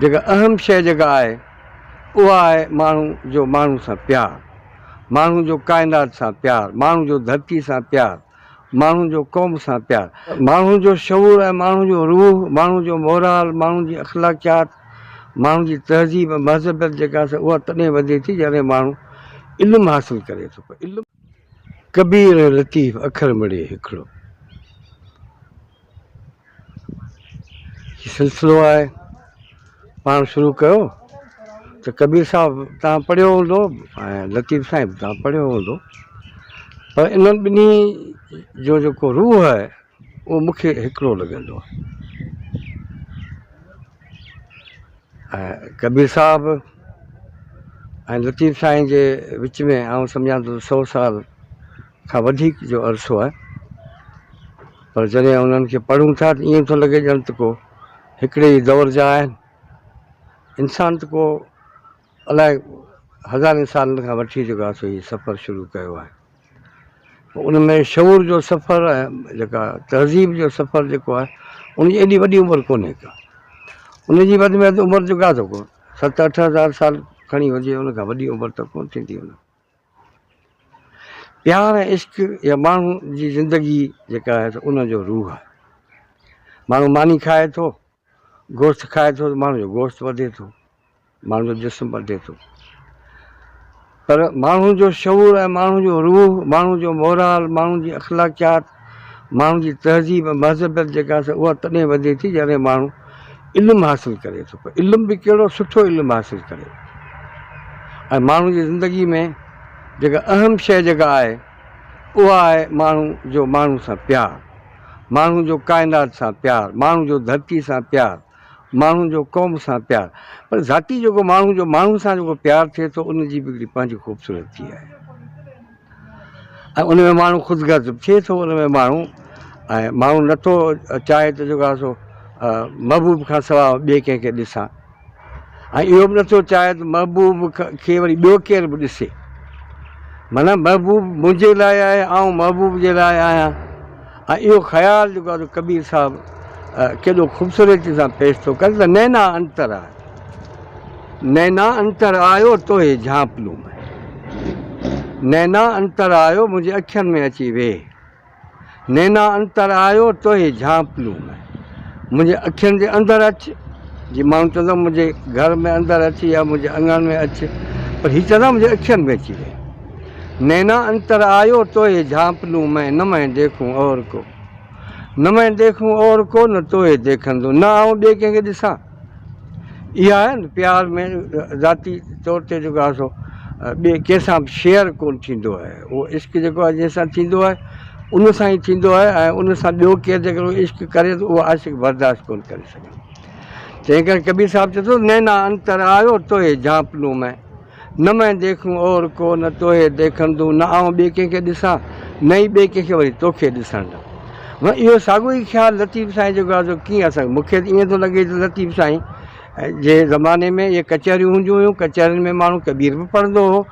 جيڪا اهم شيء جيڪا آهي اها آهي ماڻهو جو ماڻهو سان پيار، ماڻهو جو ڪائنات سان پيار، ماڻهو جو ڌرتي سان پيار، ماڻهو جو قوم سان پيار، ماڻهو جو شعور ۽ ماڻهو جو روح، ماڻهو جو مورال، ماڻهو جي اخلاقيات، ماڻهو جي تهذيب ۽ مهذبيت جيڪا سا اها تڏهن وڌي ٿي جڏهن ماڻهو علم حاصل ڪري ٿو. علم. ڪبير ۽ لطيف اکر مڙئي هڪڙو هي سلسلو آهي پاڻ شروع ڪيو ته ڪبير صاحب تان پڙهيو هوندو ۽ لطيف سائين به تان پڙهيو هوندو پر انهن ٻنهي جو جيڪو روح آهي اهو مون کي هڪڙو لڳندو آهي ۽ ڪبير صاحب ۽ لطيف سائين جي وچ ۾ آئون سمجهان ٿو سو سال کان وڌيڪ جو عرصو آهي پر جڏهن انهن کي پڙهون ٿا ته ائين ٿو لڳي ڄڻ ته ڪو هڪڙي ئي دور جا آهن انسان ته ڪو الاء هزارين سالن کان وٺي جيڪو اسان هي سفر شروع ڪيو آهي ان ۾ شعور جو سفر ۽ جيڪا تهذيب جو سفر جيڪو آهي ان جي ايڏي وڏي عمر ڪونهي ڪا ان جي وڌ ۾ وڌ عمر جو ڪا ٿو ست اٺ هزار سال کڻي هجي ان کان وڏي عمر ته ڪونه ٿيندي ان پيار ۽ عشق يا ماڻهو جي زندگي جيڪا آهي ان جو روح آهي ماڻهو ماني کائي ٿو گوشت کائي ٿو ته ماڻهو جو گوشت وڌي ٿو، ماڻهو جو جسم وڌي ٿو پر ماڻهو جو شعور ۽ ماڻهو جو روح، ماڻهو جو مورال، ماڻهو جي اخلاقيات، ماڻهو جي تهذيب ۽ مهذبيت جيڪا آهي اها تڏهن وڌي ٿي جڏهن ماڻهو علم حاصل ڪري ٿو پر علم به ڪهڙو سٺو علم حاصل ڪري ۽ ماڻهو جي زندگي ۾ جيڪا اهم شيء جيڪا آهي اها آهي ماڻهو جو ماڻهو سان پيار. ماڻهو جو ڪائنات سان پيار، ماڻهو جو ڌرتي سان پيار، ماڻهو جو قوم سان پيار پر ذاتي جيڪو ماڻهو جو ماڻهو سان جيڪو پيار ٿئي ٿو ان جي به هڪڙي پنهنجي خوبصورتي آهي ۽ ان ۾ ماڻهو خود غرض به ٿئي ٿو ان ۾ ماڻهو ۽ ماڻهو نٿو چاهي ته جيڪو آهي سو محبوب کان سواء ٻئي ڪنهن کي ڏسان. ۽ اهو به نه ٿو چاهي ته محبوب کي وري ٻيو ڪير به ڏسي. معنيٰ محبوب منهنجي لاء آهي، آئون محبوب جي لاء آهيان. ۽ اهو خيال جيڪو آهي ڪبير صاحب ڪيڏو خوبصورتي سان پيش ٿو ڪري ته نينا انتر آيو. نينا انتر آيو توهي جهانپلون ۾. نينا انتر آيو منهنجي اکين ۾ اچي ويهه. نينا انتر آيو توهي جهانپلون ۾، منهنجي اکين جي اندر اچ، جي ماڻهو چوندا آهن منهنجي گهر ۾ اندر اچ يا منهنجي اڱڻ ۾ اچ پر هي چوندا آهن منهنجي اکين ۾ اچي ويهه. نينا انتر آيو توهي جهانپلون ۾، نه مين ديکون اور ڪو، نه مين ديکون اور ڪو نه توهي ديکندو، نه آئون ٻئي ڪنهن کي ڏسان. اها آهي نه پيار ۾ ذاتي طور تي جيڪو آهي سو ٻئي ڪنهن سان به شيئر ڪونه ٿيندو آهي اهو عشق جيڪو آهي جنهن سان ٿيندو آهي ان سان ئي ٿيندو آهي ۽ ان سان ٻيو ڪير جيڪو عشق ڪري ته اهو عاشق برداشت ڪونه ڪري سگهندو تنهن ڪري ڪبير صاحب چوي ٿو نينا انتر آيو توهي جهانپنو ۾. نه مين ديکون اور ڪو نه توهي ديکڻ دون نه آئون ٻي ڪنهن کي ڏسان نه ئي ٻي ڪنهن کي وري توکي ڏسڻ ڏان ون اهو ساڳو ئي خيال لطيف سائين جو گا جو ڪيئن اسان مون کي ته ائين ٿو لڳي ته لطيف سائين جي زماني ۾ اهي ڪچهريون هونديون هيون ڪچهرين ۾ ماڻهو ڪبير به پڙهندو هو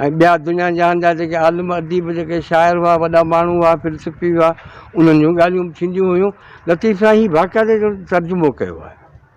۽ ٻيا دنيا جهان جا جيڪي عالم اديب جيڪي شاعر هئا وڏا ماڻهو هئا فلسفي هئا انهن جون ڳالهيون به ٿينديون هيون لطيف سائين هي باقاعده جو ترجمو ڪيو آهي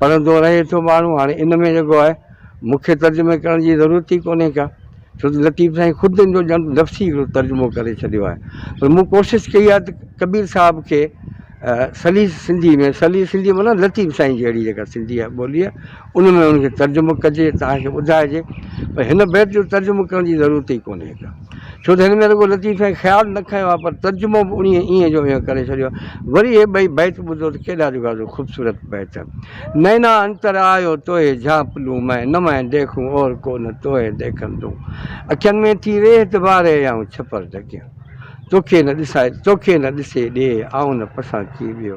پڙهندو رهي ٿو ماڻهو هاڻي ان ۾ جيڪو آهي مون کي ترجمي ڪرڻ جي ضرورت ئي ڪونهي ڪا ڇو ته لطيف سائين خود ان جو ڄڻ لفظي هڪڙو ترجمو ڪري ڇڏيو آهي پر مون ڪوشش ڪئي آهي ته ڪبير صاحب کي سليس سنڌي ۾ سليس سنڌي معنيٰ لطيف سائين جهڙي جيڪا سنڌي آهي ٻولي آهي ان ۾ ان کي ترجمو ڪجي توهان کي ٻڌائجي پر هن بيت جو ترجمو ڪرڻ جي ضرورت ئي ڪونهي ڪا ڇو ته هن ۾ رڳو لطيف ۽ خيال نه کنيو آهي پر ترجمو به انهيء ايئن جو ايئن ڪري ڇڏيو آهي. وري اهي ٻئي بيت ٻڌو ته ڪيڏا جوڳاجوڳ خوبصورت بيت. نينا انتر آيو توهي جھانپ لون مئين نه مئين ديکون اور ڪو نه توهي ديکن دون اکين ۾ ٿي ريھ دٻاري يائون ڇپر ڍڪيان توکي نه ڏسائي توکي نه ڏسي ڏيھ آئون نه پسان ڪي ٻيو.